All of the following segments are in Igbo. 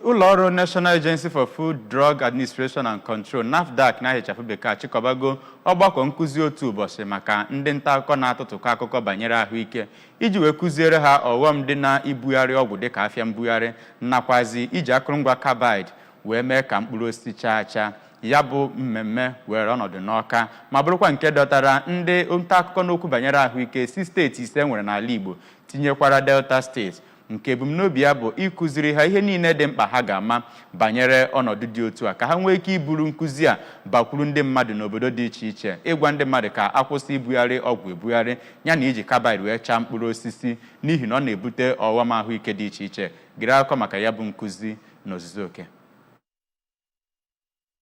ụlọ ọrụ National Agency for Food, Drug Administration and Control NAFDAC n'aha ịchafụ bekee achịkọbago ọgbakọ nkụzi otu ụbọchị maka ndị nta akụkọ na-atụtụkọ akụkọ banyere ahụike iji wee kụziere ha ọghọm dị na ibugharị ọgwụ dịka afịa mbugharị nakwazi iji akụrụngwa carbide wee mee ka mkpụrụ osisi chaa acha ya bụ mmemme were ọnọdụ n'Ọka ma bụrụkwa nke dọtara ndị nta akụkọ n'okwu banyere ahụike si steeti ise e nwere n'ala Igbo tinyekwara Delta steeti nke ebumnobi ya bụ ịkụziri ha ihe niile dị mkpa ha ga-ama banyere ọnọdụ dị otu a ka ha nwee ike iburu nkụzi a bakwuru ndị mmadụ n'obodo dị iche iche ịgwa ndị mmadụ ka a kwụsị ibugharị ọgwụ ebugharị ya na iji carbide wee chaa mkpụrụ osisi n'ihi na ọ na-ebute ọghọm ahụike dị iche iche gere akụkọ maka ya bụ nkụzi n'ozuzu oke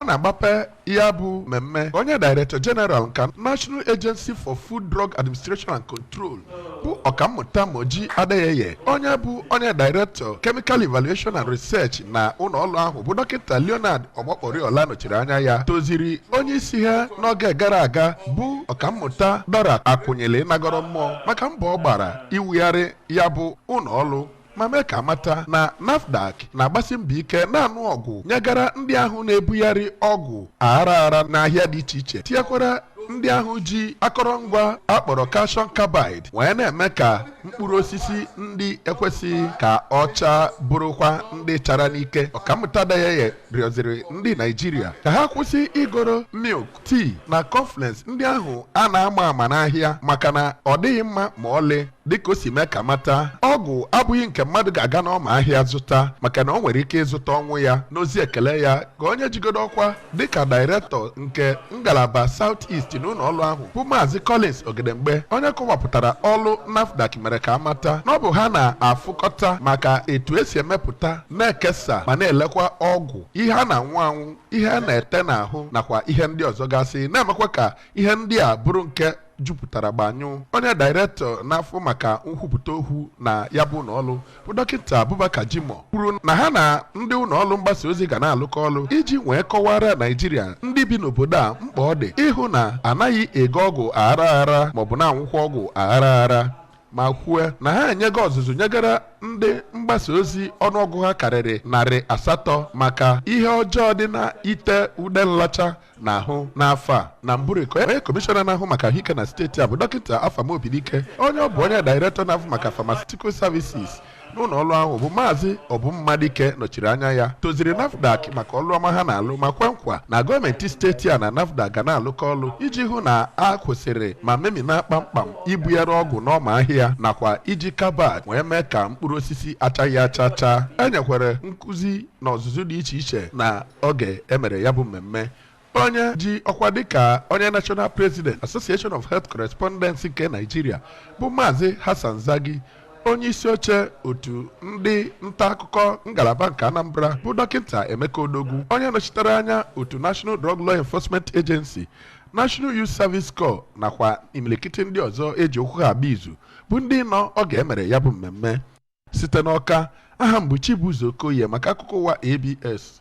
ọ na-agbape ya bụ mmemme onye director general nke national agency for food drug administration and control bụ ọkammụta moji adeyeye onye bụ onye director chemical evaluation and research na ụlọ ọrụ ahụ bụ dọkịta leonard omokpariola nọchiri anya ya toziri onye isi ha n'oge gara aga bụ ọkammụta dora akunyili nagoro mmụọ maka mbọ ọ gbara iwugharị ya bụ ụlọ ọrụ ma mee ka a mata na NAFDAC na-agbasi mbọ ike na-anụ ọgụ nyegara ndị ahụ na-ebugharị ọgwụ aghara aghara n'ahịa dị iche iche tinyekwara ndị ahụ ji akọrọngwa a kpọrọ calcium carbide wee na-eme ka mkpụrụ osisi ndị ekwesịghị ka ọ chaa bụrụkwa ndị chara n'ike ọkammụta Adeyeye rịọziri ndị Naijiria ka ha kwụsị igoro milk, tea na cornflakes ndị ahụ a na-ama ama n'ahịa maka na ọ dịghị mma ma ọlị dịka o si mee ka a mata ọgwụ abụghị nke mmadụ ga-aga n'ọma ahịa zụta maka na o nwere ike ịzụta ọnwụ ya n'ozi ekele ya ka onye jigodo ọkwa dịka dairektọ nke ngalaba South East n'ụlọ ọrụ ahụ bụ Maazị Collins Ogedengbe onye kọwapụtara ọrụ NAFDAC mere ka a mata na ọ bụ ha na-afụkọta maka etu e si emepụta na-ekesa ma na-elekwa ọgwụ ihe a na-anwụ anwụ ihe a na-ete n'ahụ nakwa ihe ndị ọzọ gasị na-emekwa ka ihe ndị a bụrụ nke jupụtara gbanyụ onye dairektọ na-afụ maka nkwupụta okwu na ya bụ ụlọọrụ bụ dọkịta Abubakar Jimoh kwuru na ha na ndị ụlọọrụ mgbasa ozi ga na-alụkọ ọrụ iji wee kọwara Naijiria ndị bi n'obodo a mkpa ọ dị ịhụ na a naghị ego ọgwụ aghara aghara maọbụ na-anwụkwa ọgwụ aghara aghara ma kwue na ha enyego ọzụzụ nyegara ndị mgbasa ozi ọnụọgụ ha karịrị narị asatọ maka ihe ọjọọ dị na ite ude nlacha n'ahụ n'afọ a na mbụrị ka onye kọmishọna na-ahụ maka ahụike na steeti a bụ dọkịta Afam Obidike onye ọ bụ onye dairektọ na-ahụ maka pharmaceutical services n'ụlọ ọlụ ahụ bụ maazị Obum Madike nọchiri anya ya toziri NAFDAC maka ọlụ ọma ha na-alụ ma kwe nkwa na gọọmenti steeti a na NAFDAC ga na-alụkọ ọlụ iji hụ na a kwụsịrị ma memina kpamkpam ibugharị ọgwụ n'ọma ahịa nakwa iji carbide wee mee ka mkpụrụ osisi achaghị acha chaa e nyekwara nkụzi na ọzụzụ dị iche iche na oge emere ya bụ mmemme Onye ji ọkwa dịka onye National President Association of Health Correspondents nke Nigeria bụ Maazị Hassan Zaggi onye isi oche otu ndị nta akụkọ ngalaba nke Anambra bụ dọkịta Emeka Odogwu onye nọchitere anya otu National Drug Law Enforcement Agency National Youth Service Corps nakwa imilikiti ndị ọzọ eji okwu ha agba izu bụ ndị nọ oge emere ya bụ mmemme site n'Ọka aha m bụ Chibuzo Okoye maka akụkọ ụwa ABS